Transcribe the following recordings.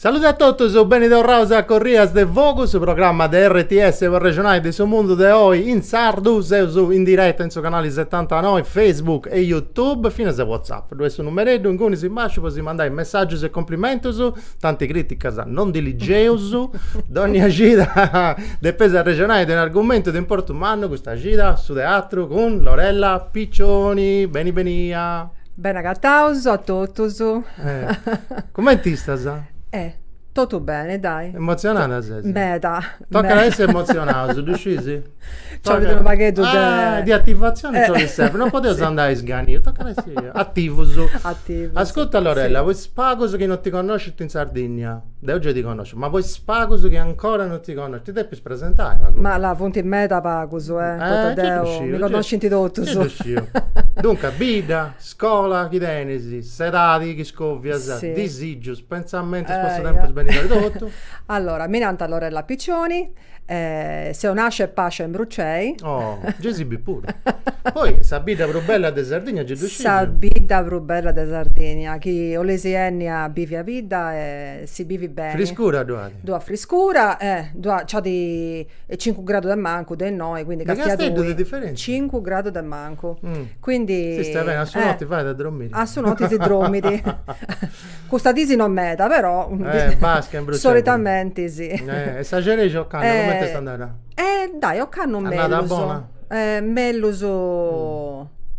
Salude a totus, beni torraus a Corrias de Fogu, su programma de RTS po arrexonai de su mundu de oi in sardu, seus in direta in su canali setantanoi, Facebook e Youtube, finas a WhatsApp. Ddu est su numereddu ingunis in basciu po si mandai messaggius e complimentus, tanti criticas no ndi ligeus, dònnia cida depeus arrexonai de un'argumentu de importu mannu, custa cida su teatru cun Lorella Piccioni. Beni benia. Beni agataus a totus. Cumenti istas? Eh! Totu beni, dai. Emotzionada ses? Meda. Tocat a essi emotzionaus, ddu scis? Nc'olit unu pagheddu de. Ah, de ativatzioni nc'olit sempri, no podeus andai a isganius, tocat a essi ativus. Ativus. Ascurta Lorella, po is pagus chi non ti connoscint in Sardinnia, deu gei ti connosciu, ma po is pagus chi ancora non ti connoscint, ti depis presentai pagu. Ma là funt meda pagus, eh, poita deu, mi connoscint totus. Gei ddu sciu. Duncas, bidda, scola chi tenis, s'edadi chi scovias, disìgius, pentzamentus po su tempus benidori totu. Allora, mi nant Lorella Piccioni Eh, seu nascia e pascia in Brucei. Oh, gei si bit puru. Poi sa bidda prus bella de Sardigna gei ddu scidiu? Sa bidda prus bella de Sardigna, chi 'olesi 'enni a bivi a bidda e si bivit beni. Friscura ddu at? Ddu at friscura e ddu at, nc'at cincu gradu de mancu de innoi, quindi castia tui. De Casteddu de diferentzia? Cincu gradu de mancu. Quindi. Si stait beni, a su noti fait a drommiri. A su noti si drommidi. Custas disi no meda, però. Eh, basca in Brucei. Solitamenti sì. Eh, e sa xerexia ocannu comente est andada? Eh, dai, ocannu mellus. Andada bona? Eh, mellus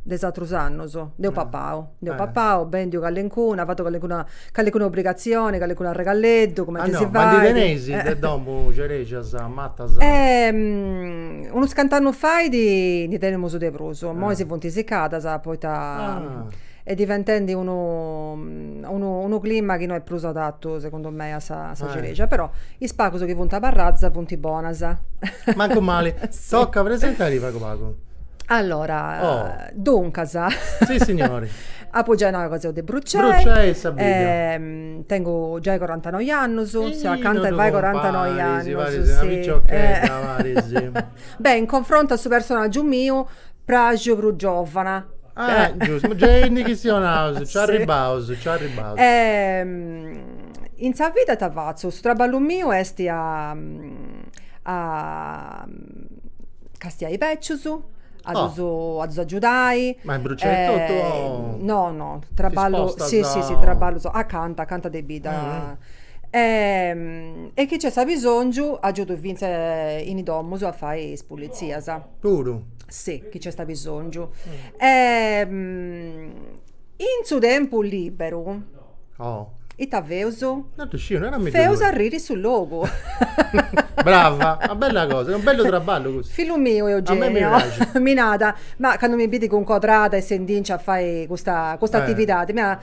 de is atrus annus. Nd'eus papau, nd'eus papau, bendiu callencuna, fatu callencuna, callencuna obrigatzioni, callencunu arregalleddu, cumenti si fait. Ma ndi teneis de domu xerexias matas? Eh, unus cant'annus faidi ndi tenemus de prus, imoi si funt sicadas poita est diventendi unu unu clima chi no est prus adattu segundu mei a sa xerexia, però is pagus chi funt abarradas funt bonas. Mancu mali. Toca, presentadì pagu pagu. Allora, duncas, apu giai nau ca seu de Brucei, tengu giai corantanoi annus, seu acanta 'e fai corantanoi annus, Beh, in confrontu a su personàgiu miu, parxu prus giòvana. Ah, giustu, gei ndi chistionaus, nci arribaus, nci arribaus. In sa vida ita fatzu? Su traballu miu est a a castiai bècius, a ddus a ddus agiudai. Ma imbruciai totu o? No, no, traballu, si, si, si, traballus acanta, acanta de bidda E e chi nc'est abisòngiu agiudu fintzas in is domus a fai is pulitzias. Puru? Si, chi nc'est abisòngiu. E in su tempus lìberu ita feus? Non ddu sciu, narami tui. Feus arriri su logu. Brava, una bella cosa, est unu bellu traballu custu. Fillu miu Eugenio. A mei mi praxit. Mi nada, ma candu mi bidit cun codrada e s'indinciat a fai custa custa atividadi, mi nada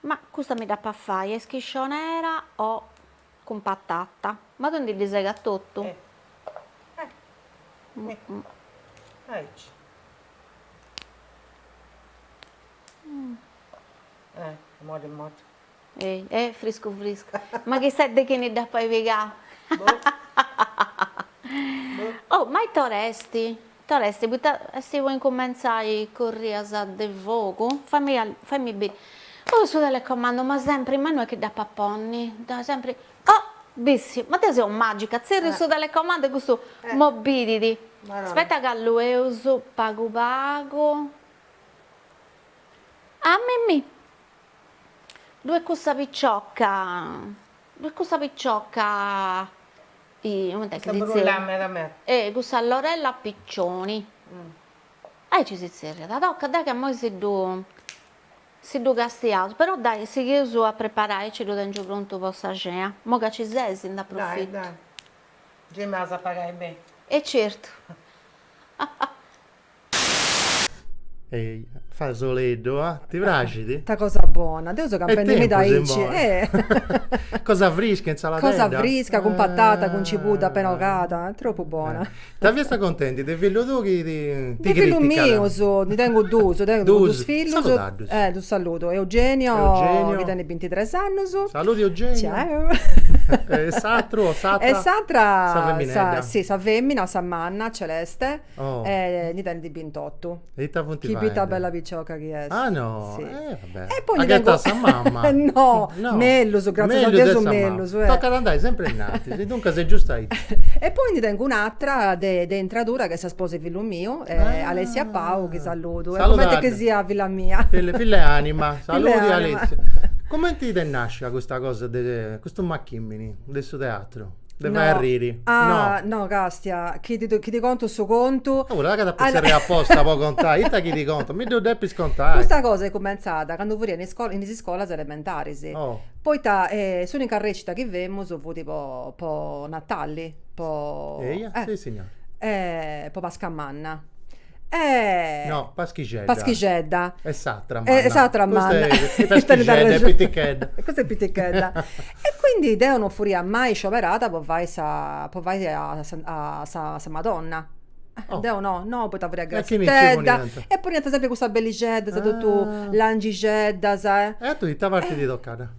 Ma custa mi dd'apu a fai a schiscionera o cun patata? Ma tui ndi ddu segas totu? Ma chissà de chini dd'apu a pigai. Oh ma ita or'est? T'ora est poita est po incumentzai currias de fogu? Faimi faimi biri. Puru su telecomandu ma sempri ma no est chi dd'apu a ponni dda sempri oh bissiu ma deu seu magica tzerriu su telecomandu e custu m'obedit aspetta ca alluu pagu pagu ah mimì ddu est cussa picioca ddu est cussa picioca M'assimbillat meda meda. Cussa Lorella Piccioni. Aici si tzerriat, tocat, dai ca immoi si ddu si ddu castiaus, però dai sighius a preparai, aici ddu tengiu prontu po sa cena, immoi ca ci seis nd'aprofitu. Dai, dai. Gei m'as a pagai beni. E certu. Ehi, fai soleddu, ah? Ti praxit? Ta cosa bona, deu seu papendi meda aici. Cosa frisca, insaladedda. Cosa frisca, cun patata, cun cibuda apena bogada, est tropu bona. Ita fiast contendi de fillu tuu chi ti criticat? De fillu miu su, ndi tengu duus, tengu duus fillus. Salutaddus. Eh, ddus saludu, Eugenio chi tenit bintitres annus. Saluti Eugenio. Ciao. E s'atru o s'atra? E s'atra. Sa feminedda. Sì, sa femina, sa manna, Celeste. Oh. E ndi tenit bintotu. E ita funt faendi? Uhi ita bella picioca chi est. Ah no, eh va bè. E poi ndi tengu. At ghetau a sa mama. No, mellus, gratzias a Deus mellus. Tocat a andai sempri innantis, e duncas est giustu aici. E poi ndi tengu un'atra de de intradura chi est sa sposa 'e fillu miu, Alessia Pau, chi saludu. Saluda. E est cumenti chi siat filla mia. Filla filla 'e anima. Filla 'e anima. Saludu Alessia. Cumenti t'est nascia custa cosa de, custu machimini de su teatru? De fai arriri. Ah, no. no, Castia, chi ti, chi ti conto su contu. Oh, ca ses posta inguni aposta po contai, ita chi ti conto? Mi ddu depis contai. Custa cosa est cumentzada candu furia in iscola, in is iscolas elementaris. Oh. Poita eh, s'unica recita chi femus fut po, po Natali, po. Eia, eh, sissignora. Eh, po Pascamanna. No, paschixedda. Paschixedda. E s'atra manna. E s'atra manna. Paschixedda est pitichedda. Custa est pitichedda. E quindi deo non furia mai scioberada po fai sa po fai a sa sa Madonna. Deo no, no, poita furia grassitedda. E poniant sempri custa bellixeddas totu langixeddas. E a tui ita parti t'est tocada?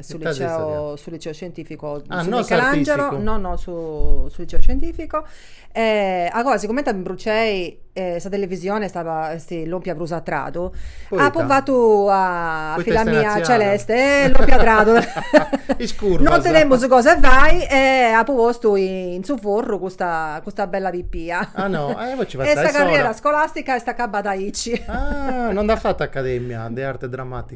su liceo, su liceo scientifico ah, su no Michelangelo, no no su, su liceo scientifico e agoa sigomente a Brucei sa televisione stava esti lompia prus a tradu Poita? apu fatu a, a filla mia celeste e eh, lompia a tradu no tenemus cosa 'e fai e apu postu in su forru custa, custa bella pipia ah no, e poi ci fatzia e sa carriera scolastica est acabada aici ah, no nd'as fatu academia de arte drammatica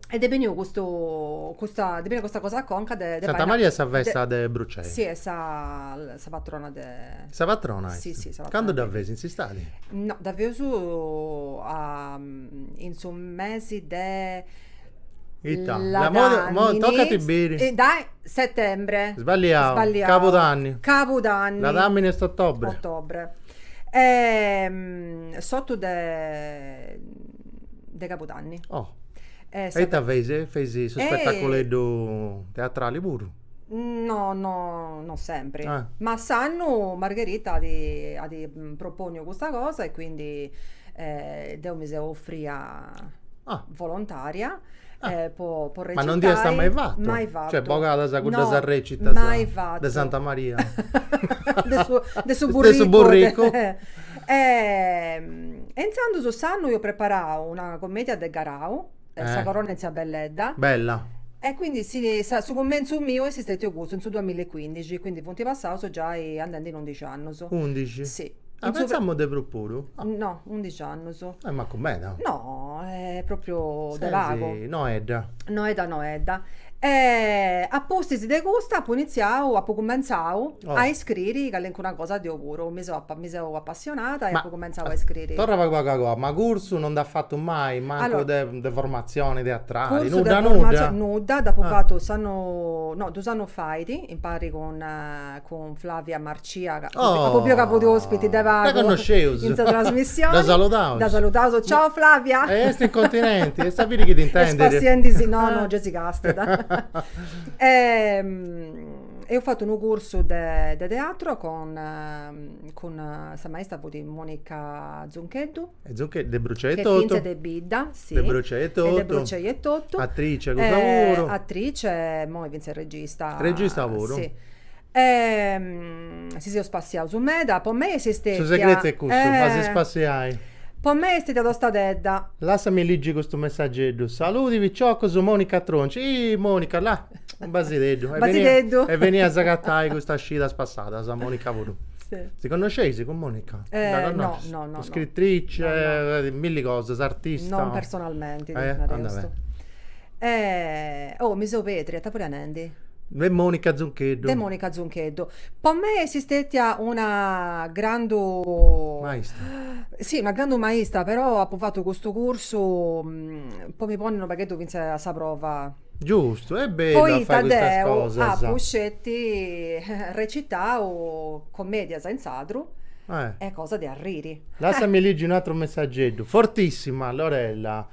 E t'est beniu custu custa t'est beniu custa cosa a conca de de Santa Maria est sa festa de Brucei. Si est sa sa patrona de Sa patrona est? Si si sa patrona. Candu dda feis in s'istadi? No dda feus a in su mesi de Ita, imoi tocat a biri. Settembre. Sballiau. Sballiau. Cabudanni. Cabudanni. Ladamini est ottobre. Ottobre s'ottu de de cabudanni. Oh e ita feis, feis su spetaculeddu teatrali puru? No no non sempri, ma su annu Margherita at propònniu custa cosa e quindi deu mi seu oferria volontaria Ah. eh, po, po recitai. Ma non nd'iast mai fatto? Mai fatto. Cioè, bogadas cuddas no, arrecitas mai fatto. de Santa Maria. de su, de su burrico. De su burrico. De, eh, e intzandu su s'annu eus preparau una commedia de Garau, eh. eh. Sa corona 'e tzia Belledda. Bella. E quindi si, sa, su cummenzu miu est stetiu custu, in su 2015, quindi funt passaus giai andendi in 11 annus. 11? Sì. Ah, pensamu de prus puru? No, undixi annus. Eh, mancu meda. No, eh, propriu de pagu. Sesi noedda. Noedda noedda. E a pustis de custa apu initziau, apu cumentzau Oh. a iscriri calincuna cosa deu puru. Mi seu, mi seu apassionada e Ma- apu cumentzau a iscriri. Torra pagu pagu agoa, ma cursu non nd'as fatu mai, mancu Allora. de de formatzioni teatrali, Cursu de nudda formatzioni, nudda? nudda, dd'apu Ah. fatu s'annu, no, dus annus fait, impari cun cun Flavia Marcia ca oh apo biu ca fut ospiti de pagu dda connosceus in sa trasmissioni dda saludaus dda saludaus ciao Flavia e est in continenti issa biri chi t'intendit est spassiendisì no no gei si càstiat e eus fatu unu cursu de teatro cun sa maistra fut Monica Zuncheddu E Zuncheddu de Brucei etotu. Ch'est fintzas de bidda, si. De Brucei etotu. Est de Brucei etotu. Attrice custa puru. Attrice e immoi fintzas regista. Regista puru. Si. si seus spassiaus meda, po mei est stetia. Su segretu est custu, a si spassiai. Po mei est stetia tostadedda. Lassami liggi custu messageddu. Saludi piciocus, Monica Tronci. Ih Monica, là. Un basideddu. E basideddu. Est benia a s'agatai custas cidas passadas, Monica puru. Si connosceis cun Monica? Eh no, no, no. Scritrice, milli cosas, artista. Non personalmenti, depu nai custu. E oh, mi seu pedria, ita fia nendi? De Monica Zuncheddu. De Monica Zuncheddu. Po mei est stetia una grandu. Maistra. Si, una grandu maistra, però apu fatu custu cursu po mi ponni unu pagheddu finzas a sa prova Giustu, est bellu a fai custas cosas. Poita deu apu sceti recitau comedias in sadru e cosa de arriri. Lassami ligi un atru messageddu. Fortissima Lorella.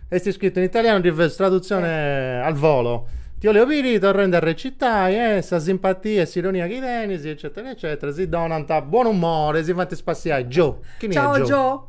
Est iscritu in italianu, ndi fais tradutzione al volo. Ti 'oleus biri torrendi a recitai e sa simpatia e s'ironia chi tenis eccetera eccetera si donant buon'umore e si fant spassiai Gio. Chini est Gio?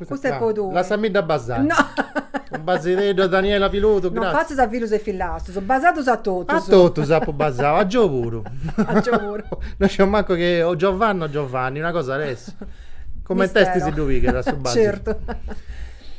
Custa est po tui. Lassami dda basai. No. Unu basideddu a Daniela Piludu, gratzia. Non fatzas a fillus e fillastus, basaddus a totus. A totus apu basau, a Gio puru. A Gio puru. No sciu mancu chi o Giovanna o Giovanni, una cosa at a essi. Coment'est est si ddu pigat su basidu. Certu.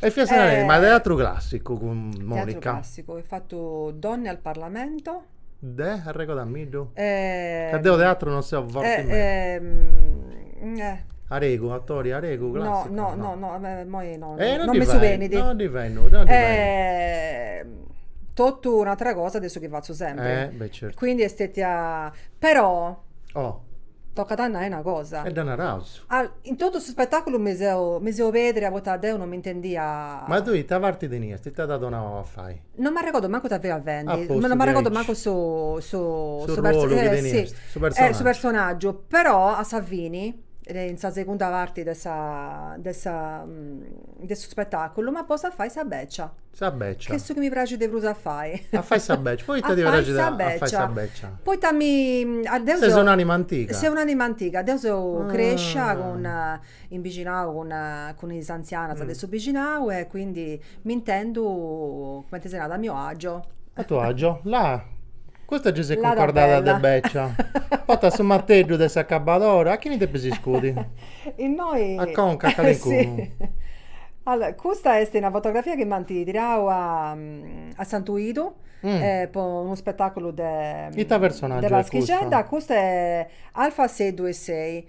E fiast narendi, ma teatru clàssicu cun Monica. Teatru clàssicu, eus fatu Donne al Parlamento. De arregodamiddu? Ca deu de teatru non seu forti meda. Aregu, autori aregu, classicu? No, no, no, immoi no, non mi subenit. No ndi fait nudda, no ndi fait nudda. Totu un'atra cosa de su chi fatzu sempri. Eh, beh certu. Quindi est stetia, però. Oh. Tocat a nai una cosa. E dda naraus. In totu su spetaculu mi seu, mi seu pedria poita deu non m'intendia. Ma tui ita parti tenias, ita t'at donau a fai? Non m'arregordo mancu ita fia fendi, non m'arregordo mancu su su su su personaggiu, però a sa fini in sa segunda parti de sa de sa de su spetaculu m'at postu a fai sa beccia. Sa beccia. Chi est su chi mi praxit de prus a fai. A fai sa beccia, poita ti praxit a fai sa beccia? Poita mi, deu seu. Ses un'anima antiga. Seu un'anima antiga, deu seu crescia cun in bixinau cun is antzianas de su bixinau e quindi m'intendu, cumenti si narat, a mio agio. A tuo agio, là. Custa gei s'est cuncordada de bècia. Portas su mateddu de s'acabadora, a chini depis iscudi? Innoi. A conca, a calincunu. Allora, custa est una fotografia chi m'ant tirau a Santuidu, po unu spetaculu de. Ita personaggiu est custu? De paschixedda, custu est Alfonseddu e Sei.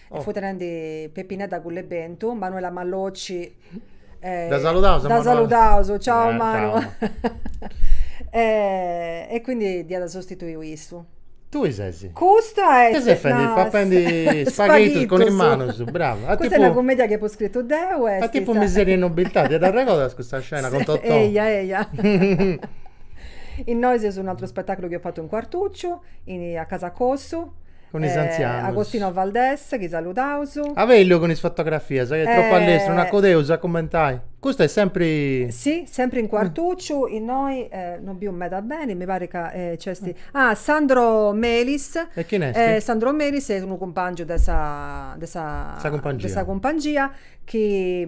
e fut tenendi Peppinedda Cul'e Bentu, Manuela Mallocci e dda saludaus dda saludaus, ciao Manu e quindi dd'iat sostituiu issu. Tui ses. Custa est. Chi ses fendi papendi spaghitus cun is manus, brava. Custa est una cummedia chi apu scritu deu est. Est tipu Miseria e nobiltà, ti dd'arregodas custa scena cun Totò? Eia eia. Innoi seus un'ateru spetaculu chi eus fatu in Cuartucciu, a Casa Cossu Cun is antzianus. Agostino Valdés, chi saludaus. Avelio cun is fotografias, chi est tropu allestru, no acudeus a cummentai. Custu est sempri. Si, sempri in Cuartucciu, innoi no biu meda beni, mi parit ca nc'esti. Ah, Sandro Melis. E chin esti? Sandro Melis est unu cumpangiu de sa. De sa. De sa cumpangia. De sa cumpangia. chi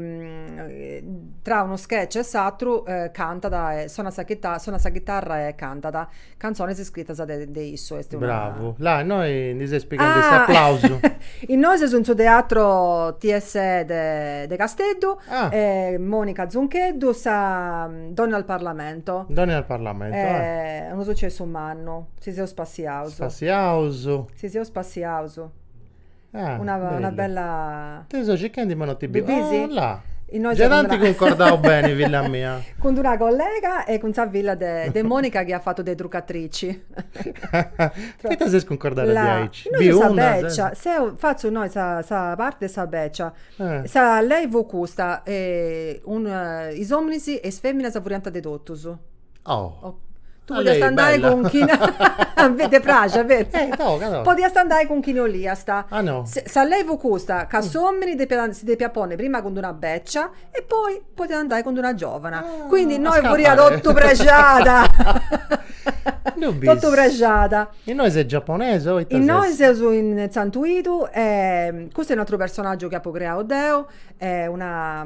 tra unu sketch e s'atru cantat e sonat sa chita sonat sa chitarra e cantat cantzones iscritas de de issu est una Bravu, là innoi ndi ses pighendi s'aplausu. Innoi seus in su teatro TSE de de Casteddu e Monica Zuncheddu sa Donne al parlamento. Donne al parlamento Est unu sucessu mannu, si seus spassiaus. Spassiaus. Si seus spassiaus. una una bella Ti so circhendi ma no ti biu. Bidhisi? Oh là. Innoi Già t'anti cuncordau beni filla mia. Cun d'una collega e cun sa filla de de Monica chi at fatu de trucatrici. Poita ses cuncordada diaici? Innoi fut sa becia. Seu fatzu innoi sa sa parti de sa becia. Sa lei fut custa, is ominis e is feminas furianta de totus. Oh. Tu podiast andai cun chi. Ti praxit, beni. Eh, toga, toga. Podiast andai cun chini oliast. Ah, no? Sa lei fut custa, ca s'omini depiat si depiat ponni prima cun d'una becia e poi podiat andai cun d'una giovana. Quindi innoi furiat totu prexada. No bis. Totu prexada. Innoi ses giaponesa o ita ses? Innoi seus in Santuidu e custu est un'ateru personaggiu chi apu creau deu, est una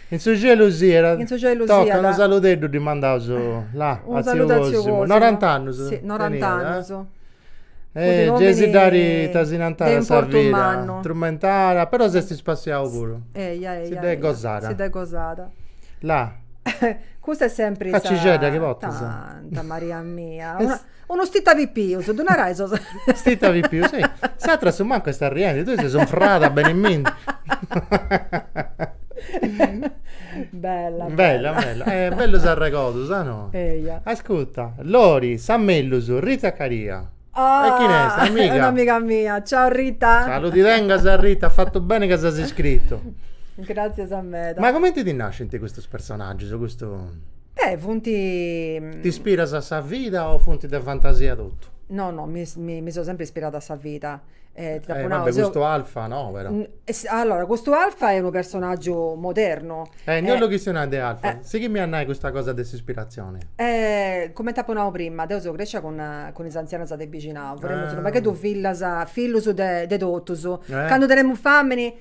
In su cielu siat. In su cielu siat. Toca unu saludeddu ddi mandaus là a tziu Cosimu. Norant'annus teniat. Norant'annus. E gei si dd'at ita si nant, sa vida. Trumentada. Però s'est spassiau puru. Eia, eia. Si dd'est gosada. Si dd'est gosada. Là. Custa est sempri sa. Callixedda chi potzas. Santa Maria mia. Unu stita pipius, ddu narai sos. Stita pipius, si. S'atra a su mancu est arriendi, tui ses unfrada beni minni. Bella, bella. Bella, bella. Bellus arregodus, a no? Eia. Ascuta, Lori, sa mellus, Rita Caria. Ah! E chini est, amiga? Est un'amiga mia. Ciao Rita. Saludi tengas Rita, as fatu beni ca s'as iscritu. Gràtzias meda. Ma cumenti ti nascint custus personaggius, custu. Eh funt. T'ispiras a sa vida o funt de fantasia totu? No no mi mi seu sempri ispirada a sa vida. Eh va be' custu Alfa no però. Allora custu Alfa est unu personaggiu modernu. Eh no bollu chistionai de Alfa, sighimi a nai custa cosa de s'ispiratzioni. Eh cumenti apu nau prima, deu seu crescia cun cun is anzianas de bixinau, furemus unu pagheddu fillas, fillus de de totus, candu tenemus fàmini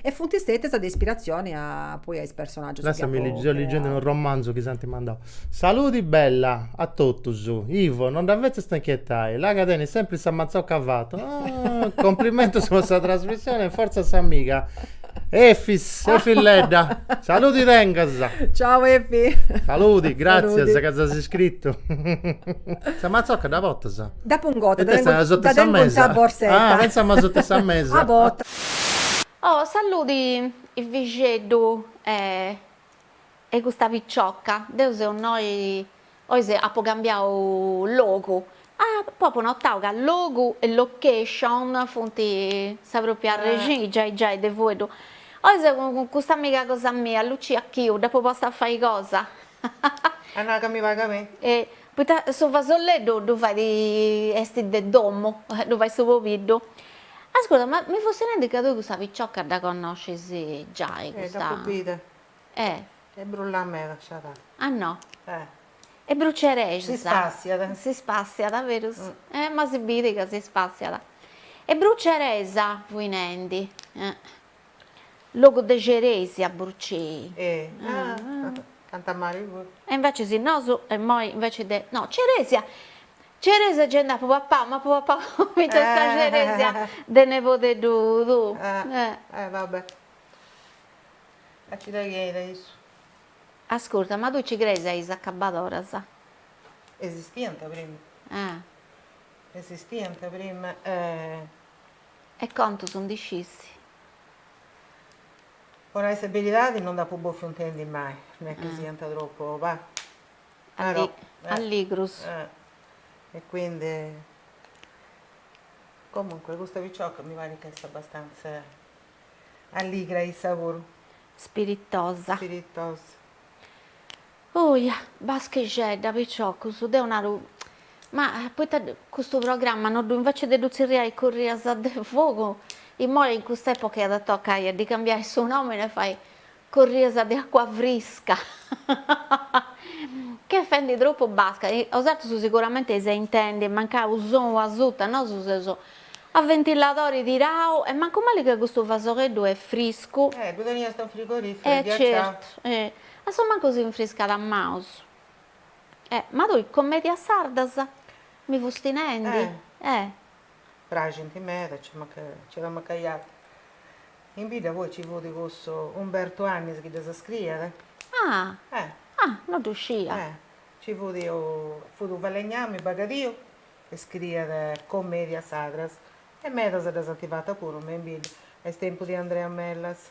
E funt stètias de ispiratzioni poi a is personàgius chi apu creau. Seu ligendi unu romanzu chi s'ant mandau. Saludi bella a totus. Ivo, non dda fetzast inchietai, là ca tenit sempri sa matzocca a fatu. Complimentus po sa trasmissioni e fortza s'amiga Efis, Efilledda. Saludi tengas. Ciau Efi. Saludi, gràtzias ca s'as iscritu. Sa matzocca dda portas? Dda pongu, dda tengu in sa borsetta. Oh saludi fixeddu 'e custa picciocca, deu seu innoi, oi apu cambiau logu, apu apu notau ca logu e location funt sa propria arrexini giai giai de fueddu, oi seu cun custa amiga cosa mia Lucia Chiu, dd'apu posta a fai cosa. A nai ca mi paga a mei. Poita su fasolleddu ddu fait, est de domu, ddu fait su pobiddu. Ascurta, ma mi fussi nendi ca tui custa picioca dda connoscis giai, custa. Eh, dd'apu bida. Eh. E brullat meda, sciadà. Ah no? Eh. E brucerexat. Si spassiat. Si spassiat, berus. Eh, ma si bidit ca si spassiat. E bruceresa fui nendi. Eh. Logu de ceresia Burcei. Canta Mari puru. E invece si nosu immoi invece de, no ceresia, ceresia ge nd'apu papau, m'apu papau fintzas sa ceresia de nebodeddu tuu. Eh va bè. A ti dda chei de issu. Ascurta, ma tui ci creis a is acabadoras? Esistiant prima. Esistiant prima e E contus ndi scis? Po nai sa beridadi no nd'apu bofiu intendi mai, non est chi siant tropu alligrus. E quindi, comunque custa picioca mi parit chi est abastanza alligra issa puru. Spiritosa. Spiritosa. Oja, baschixedda, piciocus, deu naru, ma poita custu programma no ddu, invece de ddu tzerriai Currias de fogu, imoi in cust'epoca iat a tocai a ddi cambiai su nomini e fai Currias de acua frisca, ch'est fendi tropu basca, osatrus sicuramente eis a intendi, mancai u sonu asuta, nosu seus a ventiladori tirau e mancu mali ca custu fasogheddu est friscu. Eh, ddu teniast in frigorifero e ghiaciau. E certu, e A su mancu si infriscat is manus. E ma tui commedias sardas mi fusti nendi? Eh. Eh. Praxint meda, nci nci at amachiau. In bidda poi nci fut cussu Umbertu Annis chi ddas scriiat. Ah. Eh. Ah, no ddu scia. Eh. Nci fut, fut u' falegnami bagadiu e scriiat commedias sardas e medas ddas ant fatas puru me in bidda a is tempus de Andrea Mellas.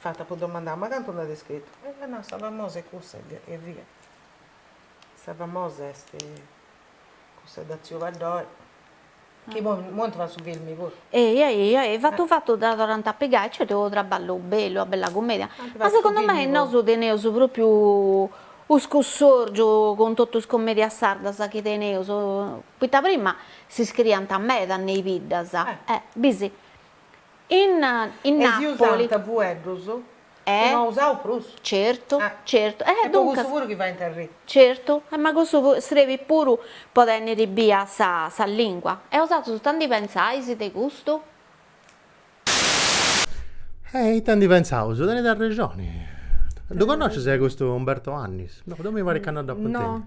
Fiat a domandai, ma cantu nd'at scritu? E at nau, sa famosa est cussa eia. Sa famosa est cussa de tziu Paddori, chi poi nd'ant fatu su filmi puru. Eia, eia, e fatu fatu dda torrant a pigai, cioè est traballu bellu, una bella cumedia, ma segundu mei nosu teneus propriu u' scussorgiu cun totu is comedias sardas chi teneus, poita prima si scriiant meda me is biddas, bisi In in Napoli. E si usant fueddus chi no usaus prus. Certu, certu. Eh, duncas. E po cussu puru chi faint arri. Certu. E ma cussu srebit puru po tenniri bia sa sa lingua. E osatrus ita ndi pentzais de custu? E ita ndi pentzaus? Tenit arrexoni. Ddu connocis custu Umberto Annis? No, deu mi parit ca no dd'apu intendiu. No.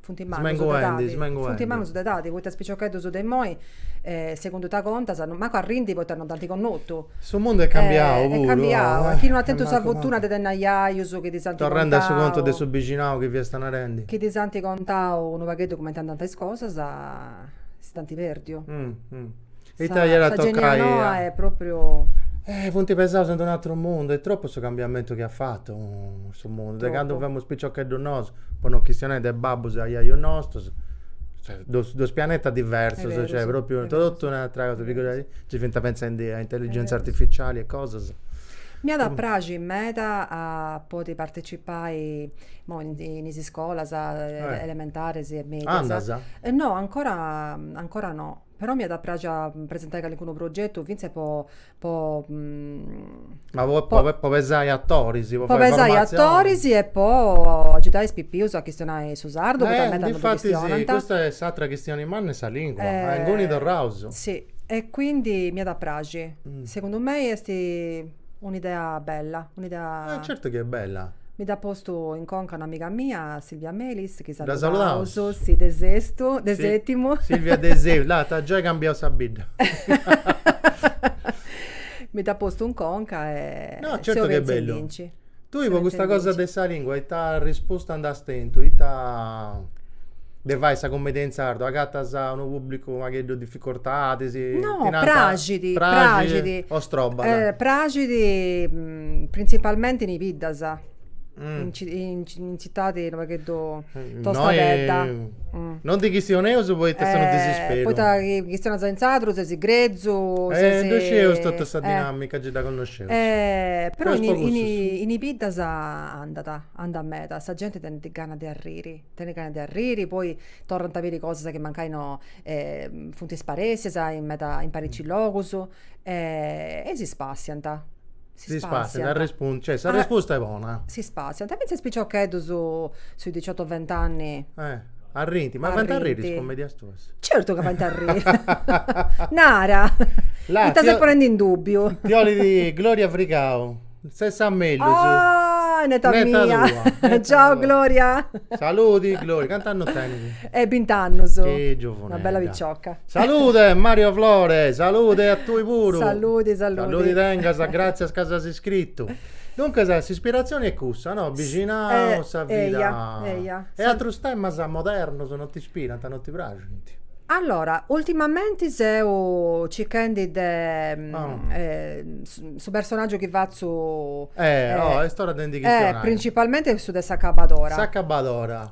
funt mannus de edadi poita is piciocheddus de imoi segundu ita contas mancu arrint poita non dd'ant connotu su mundu est cambiau puru est cambiau chi no ant tentu sa fortuna de tenni ajajus chi ddis ant contau torrendi a su contu de su bixinau chi fiasta narendi chi ddis ant contau unu pagheddu cumenti andànt is cosas s'ant perdiu Ita iat a toccai a. Eh, funt pesaus in d'unu ateru mundu, est tropu su cambiamentu chi at fatu su mundu, de candu femus piciocheddus nosu, po non chistionai de babbus e aiaius nostus, cioè dus dus pianetas diversus, cioè propriu totu un'atera cosa, figuradì, nci fint pentzendi a intelligenza artificiali e cosas. M'iat a praxi meda a podi partecipai, imoi in is iscolas elementaris e medias. Andas? No, ancora ancora no Però m'iat a praxi a presentai calincunu progetu fintzas po po Ma po po po po pesai atoris, po fai formatzionis. Po pesai atoris e po agiudai is pipius a chistionai su sardu, poita meda non ddu chistionant. Infati si, custa est s'àtera chistioni manna est sa lingua, a inguni torraus. Si, e quindi m'iat a praxi. Segundu mei est Un'idea bella, un'idea. E certu chi est bella. Mi dd'at postu in conca un'amiga mia, Silvia Melis, chi saludaus. Dda saludaus. Sì, de Sestu, de Setimu. Silvia de Sestu, là t'at giai cambiau sa bidda. Mi dd'at postu in conca e. No, certu chi est bellu. Tui po custa cosa de sa lingua ita risposta nd'as tentu? Ita de fai sa cummedia in sardu? Agatas unu pubblicu unu pagheddu difficortadis? No, praxit, praxit. O strobat? Praxit, printzipalmenti in is biddas. In tzitadi unu pagheddu tostadedda. Non ndi chistioneus poita est unu disisperu. Poita chi chistionas in sadru sesi grezu, sesi. Dda scieus totu sa dinamica, gei dda connosceus. Però in i biddas andat, andat meda, sa genti tenit gana de arriri, tenit gana de arriri, poi torrant a biri cosas chi mancai funt isparessias in meda, in parici logus e si spassiant. Si spassiant arrespunt cioè sa respusta est bona. Si spassiant e fintzas is piciocheddus sui diciotto vent'anni. Eh. Arrint, ma faint arriri is cummedias tuas? Certu ca faint arriri. Nara. Là. Ita ses ponendi in dubbiu? Ti 'olit Gloria Frigau. Ses sa mellus. Ah, neta mia. Neta tua, neta tua. Ciao Gloria. Saludi Gloria, cant'annus tenit? Eh bint'annus. Chi giovunedda. Una bella picioca. Salude Mario Flore, salude a tui puru. Saludi, saludi. Saludi tengas, gratzias ca si as iscritu. Duncas, s'ispiratzioni est cussa, no? Bixinau, sa vida. Eia, eia. E atrus temas modernos non t'ispirant, non ti praxint? Allora, ultimamenti seu circhendi de... su personaggiu chi fatzu. Eh, oh, est ora de ndi chistionai. Principalmente su de s'acabadora. S'acabadora.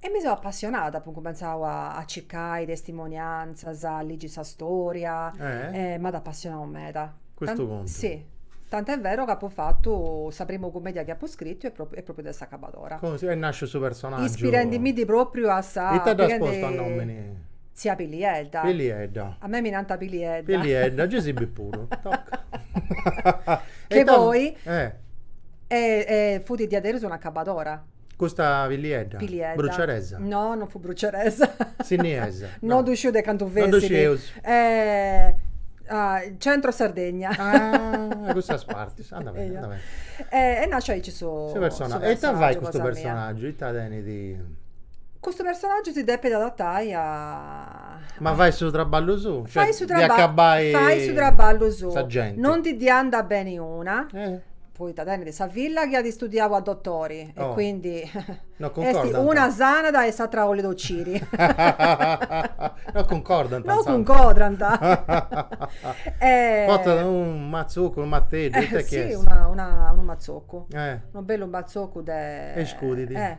E mi seu appassionada, apu incumentzau a, a circai testimonianzas, a ligi' sa storia, Eh? e m'at appassionau meda. Custu contu. Sì, tant'e vero ca apu fatu sa primu cumedia chi apu scritu est pròpriu, est pròpriu de s'acabadora. Cumenti est nasciu su personaggiu. Ispirendimindi pròpriu a sa, Ita dd'as postu a nomini? Tzia Pilliedda. Pilliedda. A mei mi nant Pilliedda. Pilliedda, gei si bi puru. Toca. Che poi- Eh. E e fut diaderus un'acabadora. Custa Pilliedda? Pilliedda. Bruceresa? No, non fut bruceresa. Sinniesa? No. No ddu sciu de ca 'ndi fessit. No ddu scius. Ah, centro Sardegna. Ah, de cussas partis. Anda beni, anda beni. Est nasciu aici su Su personagiu. E ita fait custu personagiu? Ita tenit? Custu personagiu si depit adatai a Ma fait su traballu suu, cioè fait su traballu, acabai fait su traballu suu, sa genti. non ndi ddi andat beni una, Eh. poita tenit sa filla chi at istudiau a dotori e Oh. quindi No cuncordant. una sanat e s'atra 'olit ociri. No cuncordant, No insomma. cuncordant. Portat unu mazzoccu, unu mateddu, ita chi est? Sì, una una unu mazzoccu. Eh. Unu bellu mazzoccu de. E iscudit. Eh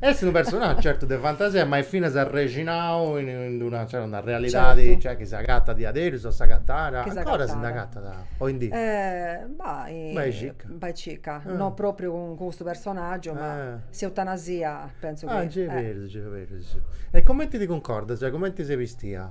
Est unu personaggiu certu de fantasia ma est finas arrexinau in in una cioè una realidadi Certu. cioè chi s'agatat diaderus o s'agatàt, Chi s'agatat. ancora si nd'agatat oindì? Bah Bai circa. Bai circa, Ah. no propriu cun custu personaggiu ma Ah. s'eutanasia pentzu chi Ah nci 'e perus nci 'e perus. E cumenti ti cuncordas, cioè cumenti ses bistia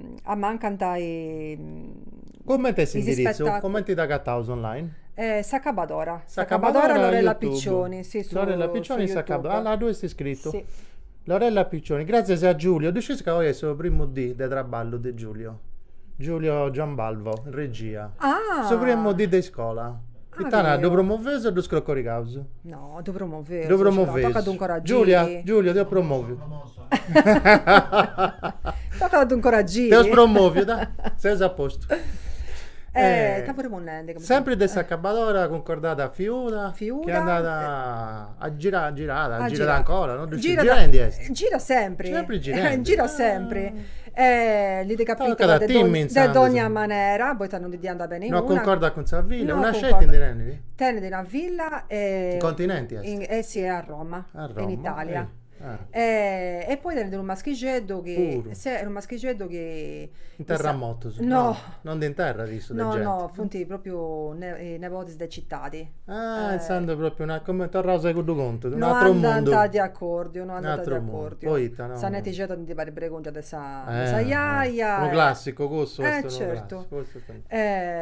ammancant is. Cumenti est s'indiritzu? Cumenti t'agataus online? S'acabadora. S'acabadora Lorella Piccioni. Lorella Piccioni s'acabadora. Ah là ddoi est scritu. Lorella Piccioni. Gràtzias a Giulio. Ddu sciis ca oi est su primu dì de traballu de Giulio? Giulio Giambalvo, in regia. Ah! Su primu dì de iscola. Ita nai, ddu promoveus o ddu scrocorigaus? No, ddu promoveus. Ddu promoveus. Tzaca unu coru a Giulio. Giulio, Giulio t'eus promòviu. T'at a ddu incoragiri. T'eus promoviu, da, ses a postu. Eh, ta puru ponnendi. Sempri de s'acabadora cuncordada a Fiuda. Fiuda. Chi andat a girai, girat, girat ancora, no ddu sciu, girai ndi est. Girat sempri. Sempri girendi. Girat sempri. Li ndi capitada de dogna manera, poita non ndi diant beni una. No cuncordat cun sa villa, una sceti ndi tenit? Tenit una villa. In continenti est. Eh si, a Roma. A Roma. In Italia. E poi tenit unu maschixeddu chi. Puru. Seh, unu maschixeddu chi. Unu terremotu. No. No ndi interrat issu de genti. No, no, funt propriu nebodis de citadi. Ah, intzandus propriu una, comenti, torraus a cuddu contu, unu atru mundu. No andant de acordiu, no andant de acordiu. Poita no. Sa netixedda ndi parit pregungia de sa jaja. Unu classicu cussu est unu classicu. Eh,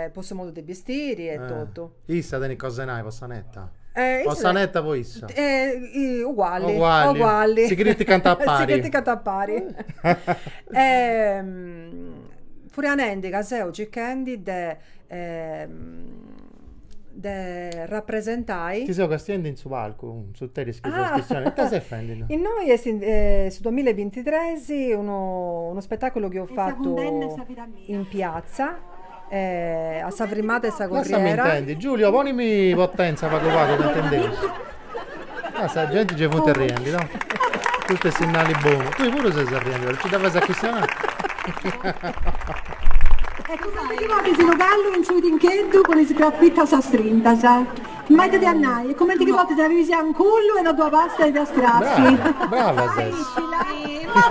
certu. Po su modu de bistiri e totu. Issa tenit cosa 'e nai po sa neta? Po sa neta po issa? Ugualli. Ugualli. Si criticant a pari. Si criticant a pari. Furianendi ca seu circhendi de de rapresentai. Ti seu castiendi in su palcu, in s'interis chi ses chistionendi. Ita ses fendi innoi? Innoi est su duamilla e bintitresi unu spetaculu chi eus fatu in pratza. A sa frimada 'e sa corriera. Lassami intendi, Giulio, ponimi potenza pagu pagu ca intendeus. Ah, sa genti gei funt arriendi, no? Custu est sinnali bonu. Tui puru ses arriendi, no nci dda fais a chistionai. E cumenti ti podis, unu callu in su tincheddu cun is crapittas istrintas. M'at depiu nai, e comenti chi podes arriri si a un cullu e no ddu abastat de a strassi. Brava ses. Ma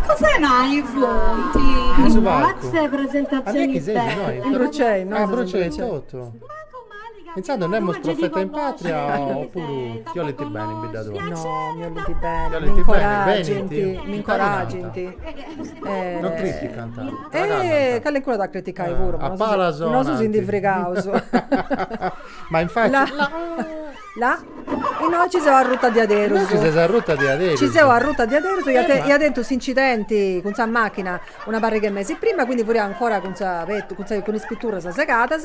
cussa innui furiat? In su palcu. Grazie presentazioni belle. Burcei, no? Ah, Burcei totu. Intzandus nemus profeta in patria o puru ti 'olint beni in bidda tua? No, mi 'olint beni, mi incoragint, mi incoragint. Non criticant. Eh, calencunu at a criticai puru. A palas sonant. Nosu si ndi frigaus. Ma infati. La. La. Innoi nci seu arruta diaderus. Innoi nci ses arruta diaderus. Nci seu arruta diaderus, ia tentu s'incidenti cun sa machina una parrig'e mesi prima, quindi furia ancora cun sa, cun is pitturras segadas.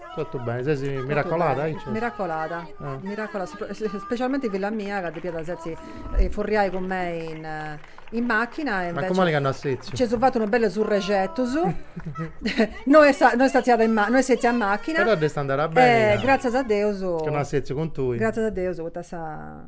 Totu beni, ses miracolada anchi? Miracolada, miracolada, specialmenti filla mia ca depiat setzi furriai cun mei in machina e invece. Mancu mali ca no at setziu? Nci seu fata una bella surrexit, no est no est setzia in no est setzia in machina. Però dd'est andada beni ca. E gratzias a Deus. Ca no at setziu cun tui. Gratzias a Deus poita sa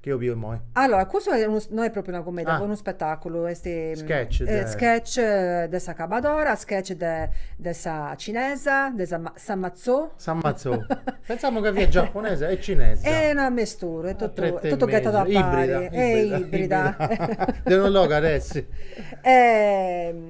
Chi eus biu immoi? Allora, custu no est propriu una cummedia, est unu spetaculu, est Sketch de. Sketch de s'acabadora, sketch de de sa cinesa, de sa sa matzò. Sa matzò. Pentzamu ca fiat giaponesa e cinesa. Est una mesturu, est totu est totu ghetadu apari. Ibrida. Est ibrida. De unu logu at essi.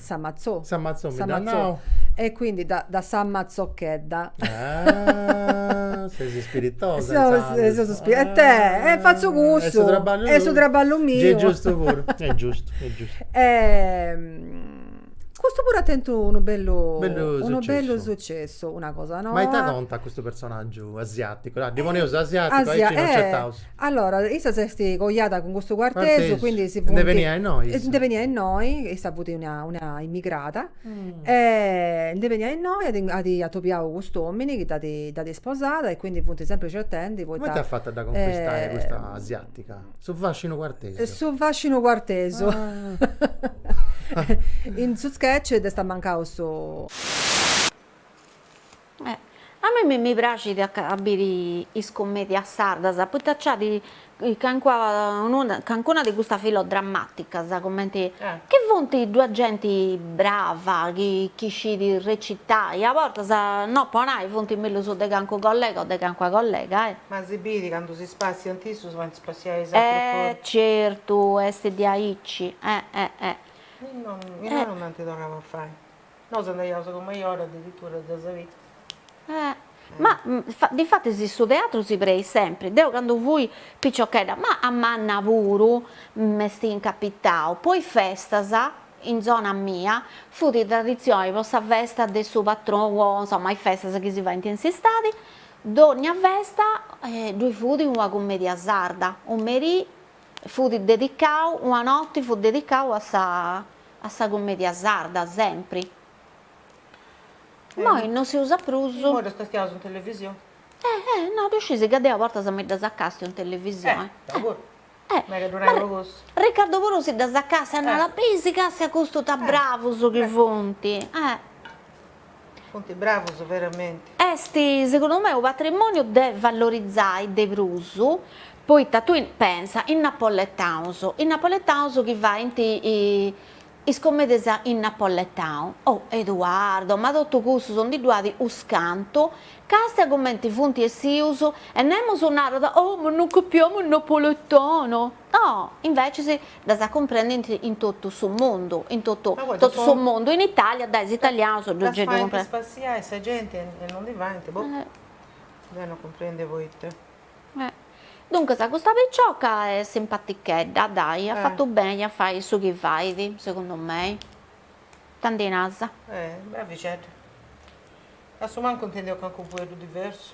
Sa matzò. Sa matzò mi dda nau. E quindi da sa matzochedda. Ses ispiritosa intzandus. E it'est, fatzu cussu. Est su traballu tui. Est su traballu miu. Est giustu puru. Est giustu, est giustu. Custu puru at tentu unu bellu. Bellu sucessu. Unu bellu sucessu, una cosa noa. Ma ita contat custu personaggiu asiaticu? Ddi poneus asiaticu aici non nc'est. Allora, issa s'est coiada cun custu cuartesu, quindi si funt. Nde beniat innoi issa? Nde beniat innoi, issa fut una una immigrada, e nde beniat innoi, at at atobiau cust'omini chi dd'at isposada e quindi funt sempri certendi poita. Cumenti at fatu a dda conquistai custa asiatica? Su fascinu cuartesu. Su fascinu cuartesu. In su sketch dd'est ammancau su. A mei mi praxit a a biri is commedias sardas, poita nc'at cancuna de custas filodrammaticas, cumenti, chi funt, ddu at genti brava, chi chi scit recitai, a bortas, no po nai, funt mellus de calincunu collega o de calincuna collega. Ma si bit candu si spassiant issus faint spassiai is atrus puru. Eh certu, est diaici. Imoi no, imoi no nd'ant torrau a fai Nosu andaiaus a domu insoru addiritura a ddas a biri. Ma difatis su teatru si preit sempri, deu candu fui piciochedda, ma a manna puru, m'est incapitau, po is festas, in zona mia, fut traditzioni po sa festa de su patronu po insoma is festas chi si faint in s'istadi, dònnia festa ddoi fut una cumedia sarda, u merì fut dedicau, una noti fut dedicau a sa a sa cummedia sarda sempri. Immoi no si usa prus. Immoi ddos castiaus in televisioni. Eh eh no ddu sciis ca deu a bortas mi ddas acastiu in televisioni. Eh, deu puru. Eh. Mi ddu nai pro cussu. Ricardo puru si ddas acastiat e narat, besi castia custu ta bravus chi funt. Eh. Funt bravus veramenti. Est segundu mei unu patrimoniu de valorizai de prus, poita tui pensa is napoletaus, is napoletaus chi faint is comedias in napoletau, oh Eduardo, ma totu cussus ndi ddu at unus cantu, castia cumenti funt essius, e nemus narat, oh ma non capiamo il napoletano, no, inveces ddas acumprendint in totu su mundu, in totu totu su mundu, in Italia dae is italianos ddu gei ddu cumprendint. Ddas faint spassiai sa genti e non ndi faint, boh, deu non cumprendia poita. Duncas custa picioca est simpatichedda, ddai, at fatu beni a fai su chi fait, segundu mei, tandu nasa. Eh, bravixedda. Assumancu intendeus calincunu fueddu diversu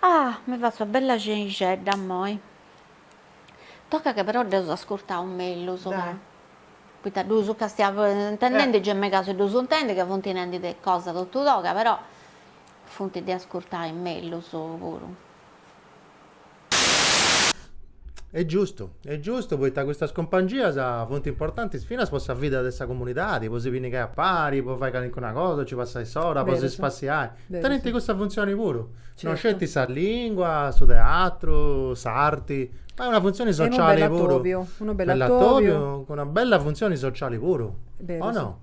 Ah! mi fatzo una bella xenixedda immoi, tocat chi però dd'eus ascurtau mellus, ca poita ddus ca seus intendendi gei megaus a ddus intendi ca funt nendi de cosa totu toga, però funt de ascurtai mellus puru Est giustu, est giustu, poita custas cumpangias funt importantis finas po sa vida de sa comunidadi, po si pinnigai a pari, po fai calincuna cosa, po ci passai s'ora, po si spassiai. Tenint cussa funtzioni puru. No sceti sa lingua, su teatru, s'arti, ma est una funtzioni sociali puru. Unu bellu atobiu. Unu bellu atobiu cun una bella funtzioni sociali puru. O no?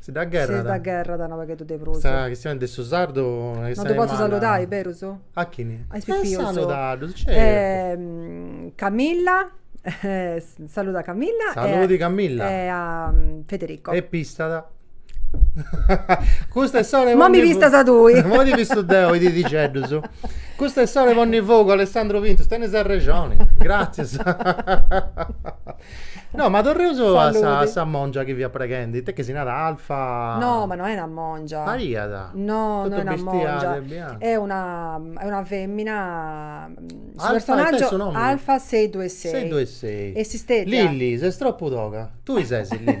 Si dda gherrat. Si dda gherrat unu pagheddu de prus. Sa chistioni de su sardu est aici manna. No ddu potzu saludai, berus? A chini? A is pipius. E saludaddus, certu. Camilla, saluda Camilla. Saludi Camilla. E a Federico. E pistada. Custa est s'ora 'e ponni. Mo mi pistas tui. Mo ti pistu deu is didixeddus. Custa est s'ora 'e ponni fogu, Alessandro Pintus, tenis arrexoni. Gratzias. No, ma torreus a sa, a sa mongia chi fiat preghendi, ita est chi si narat, Alfa? No, ma no est una mongia. Pariat. No, no est una mongia. Est una, est una femina, su personaggio, Alfa sei due sei. Sei due sei. E s'istètia. Lilli, ses tropu toga. Tui ses Lilli.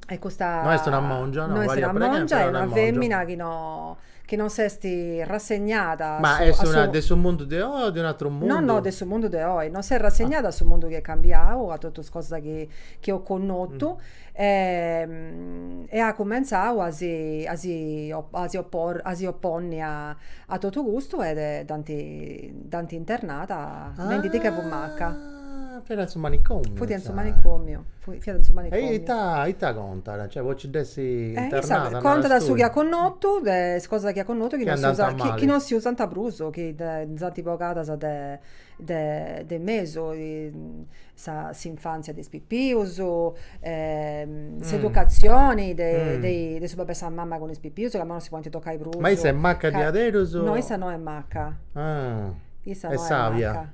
E custa no est una mongia, no est una mongia, est una femina chi no chi non s'est rassegnada a su est una de su mundu de oi o de un'atru mundu? No no de su mundu de oi, non s'est rassegnada a su mundu chi est cambiau, a totu is cosas chi chi eus connotu e at cumentzau a si a si a si oporri a si oponni a a totu custu e dd'ant dd'ant internada nendi ca fut macca Ah, fiat in su manicomiu. Fut in su manicomiu, fiat in su manicomiu. E ita, ita contat? Cioè, po ci dd'essi internada? Contat su chi at connotu, de is cosas chi at connotu chi non si usant prus, chi nd'ant bogadas de de mesu, sa s'infantzia de is pipius, s'educatzioni de de su babbu e sa mama cun is pipius, ca imoi non si podint tocai prus. Ma issa est macca diaderus? No, issa no est macca. Ah, est sàbia.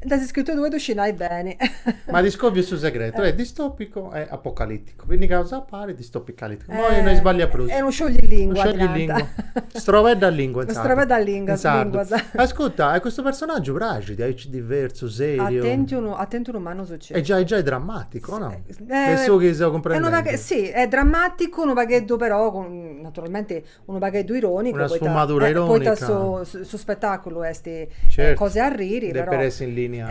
Dd'as iscritu tui ddu scis nai beni. Ma ti scòviu su segretu, e distopicu e apocaliticu, pinnigaus a pari, distopicaliticu, moi no isballiu prus. Est unu sciogli lingua, narant. Unu sciogli lingua, strobedda lingua in sardu. Unu strobedda lingua, linguas. Ascurta, e custu personaggiu praxit, aici diversu, seriu. At tentu unu mannu sucessu. Est giai giai drammaticu, o no? De su chi seu cumprendendi. Si, est drammaticu, unu pagheddu però, naturalmenti Unu pagheddu ironicu Una sfumadura ironica Poita su su spetaculu esti Certu Cosa 'e arriri però Depit essi in linea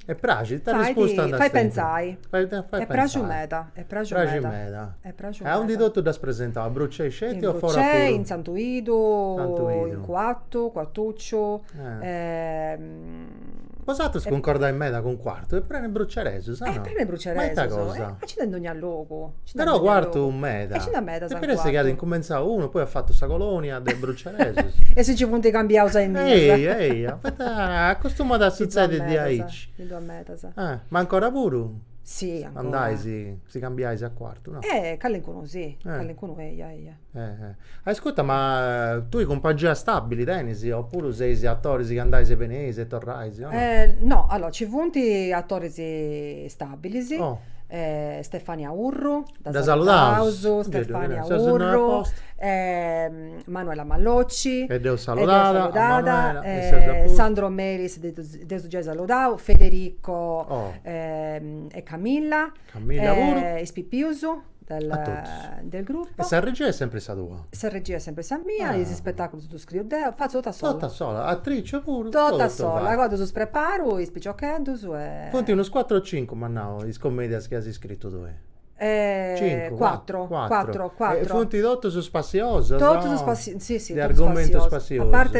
E praxit Fait Arrispusta nd'as tentu Fait pentzai Fait pensai Est pràxiu meda Est pràxiu meda Praxit meda Est pràxiu meda E aundi totu dd'as presentau a Brucei sceti o fora puru? In Brucei in Santu Idu Santu Idu In Cuattu Cuattucciu Bosatrus cuncordais meda cun Quartu, est prenu 'e bruceresus, o no? Est prenu 'e bruceresus. Ma ita cosa? Ma nci nd'est in dogna logu. Però Quartu meda. E nci nd'est medas in Quartu. Podit essi chi at incumentzau unu, poi at fatu sa colonia de bruceresus. E si nci funt cambiaus a innì. Eia, eia, poita acostumat a sutzedi diaici. Nci nd'est medas. Ma ancora puru? Si, ancora. Andais, si cambiais a Quartu, no? Calincunu si, calincunu eia, eia. Ascurta, ma tui cumpangia stabili teneis oppuru seis attoris chi andais e beneis e torrais? No, allora ci funt attoris stabilis, Stefania Urru, dda saludaus, Manuela Malocci, dd'eus saludada, Sandro Meris, dd'eus giai saludau, Federico e Camilla, is pipius. a totus. E sa regia est sempri sa tua? Sa regia est sempri sa mia, is ispetàculus ddus scriu deu, fatzu totu a sola. Totu a sola, atrice puru, totu fai. Totu a sola, agoa ddus preparu is piciocheddus e. Funt unus cuatru o cincu, m'as nau, is comèdias chi as scritu tui? Cincu, cuatru. Cuatru, cuatru. E funt totus spassiosas o. Totus spassiosas, si si, totus spassiosas. De argomentu spassiosu. A parti.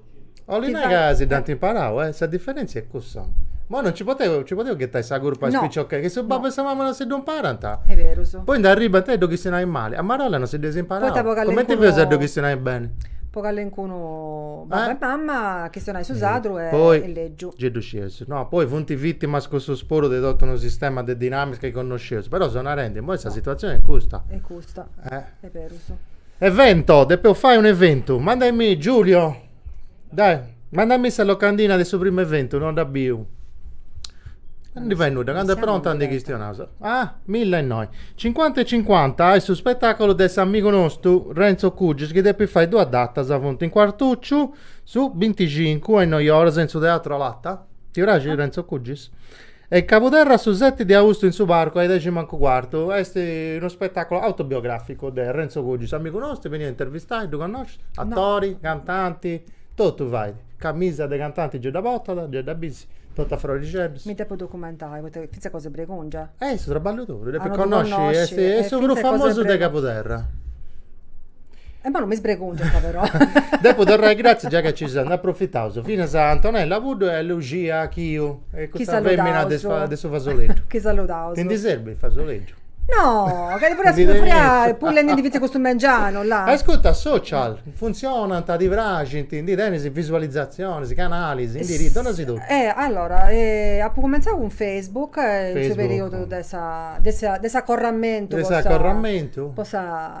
Olit nai ca si dd'ant imparau, eh! Sa diferèntzia est cussa. Imoi non nci podeus ghetai sa curpa a is piciocheddus, chi su babbu e sa mama non si ddu imparant, poi nd'arribbant a ddu chistionai mali, a marolla non si dd'eus imparau, cumenti fais a ddu chistionai beni? Po calincunu babbu e mama chistionai su sardu est legiu. Gei ddu scieus, no, poi funt vìtimas cussus puru de totu unu sistema de dinàmica chi connosceus, però seu narendi, imoi sa situatzioni est custa. Est custa, est berus Evento, depeus fai un'eventu, mandami Giulio, dai, mandami sa locandina de su primu eventu, no dda biu. Non ndi fai nudda, candu est pronta ndi chistionaus. Ah, milla e innoi. Cincuanta e cincuanta est su spetàculu de s'amigu nostu Renzo Cugis chi depit fai duas datas, funt in Cuartucciu su binticincu a innoi oras in su Teatro Olata. Ti praxit Renzo Cugis? E Cabuderra a su seti de austu in su Parcu a i dexi mancu cuartu est unu spetàculu autobiogràficu de Renzo Cugis, amigu nostru, beniat a intervistai, ddu connoscis? Atori, cantanti, totu fait, camisa de cantanti gei dda portat, gei dda bisi, totu a frorixeddus. Mi depu documentai, poita fintzas cosa 'e bregungia. Est su traballu tou, ddu depis connosci, est su prus famosu de Cabuderra. E ma non mi sbregungiat però. Depu torrai gratzias giai ca nci seus, nd'aprofitaus, finas a Antonella Puddu e a Luxia Chiu e custa femina de de su fasoleddu. Chi saludaus. Ti ndi serbit fasoleddu? No, ca ddi furia furia pulliendi ndi fizzu custu mengianu là. Ascurta, social, funtzionant, ti praxint, ndi tenis visualizatzionis, canalis, indirizzus, dona-sì totu? Eh, allora, apu cumenzau cun Facebook in su periudu de sa de sa de s'acorramentu po sa po sa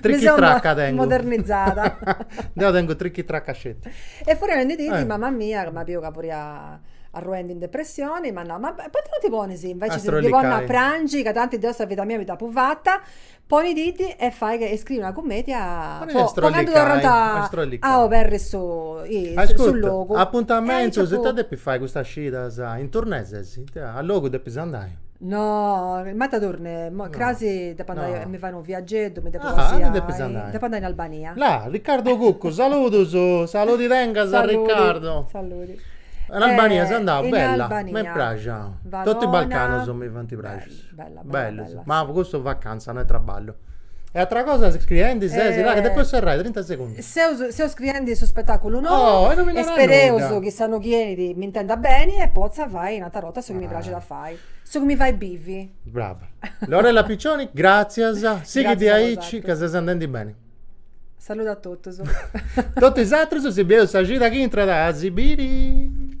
Trichitracca tengu. Modernizada. Deu tengu trichitracca sceti. E furriada in d'e dì, mama mia, ca m'at biu ca furia arruendi in depressioni, m'at nau, ma poita no ti ponis inveci de ti ponni a prangi, ca tanti deu sa vida mia mi dd'apu fata, ponididdi e fai e scriri una cummedia po candu torrant a oberri su logu. Ascurta, apuntamentus, ita depis fai custas cidas, in turnè ses, ita, a logu depis andai. No, ma ita turnè, cras depo andai a mi fai unu viageddu, mi depo così ai, depo andai in Albania. La, Riccardo Cuccu, saludos, saludi tengas Riccardo. Saludi, saludi. In Albania seu andau, bella, m'est praxia. Totu is Balcanos mi funt praxius. Bella, bella, bella. Ma custu vacanza, no est traballu E atra cosa scriendi ses, là, ca depu serrai, trinta segundus. Seu, seu scriendi su spettaculu nou. Oh, e no mi narat nudda. E spereus chi s'annu chi 'enit m'intenda beni e potza fai un'atra 'orta su chi mi praxit a fai. Su chi mi fait bivi. Brava. Lorella Piccioni, gràtzias. Sighidi aici ca ses andendi beni. Saludu a totus. Totu is atrus si bieus sa cida chi intrat a si biri.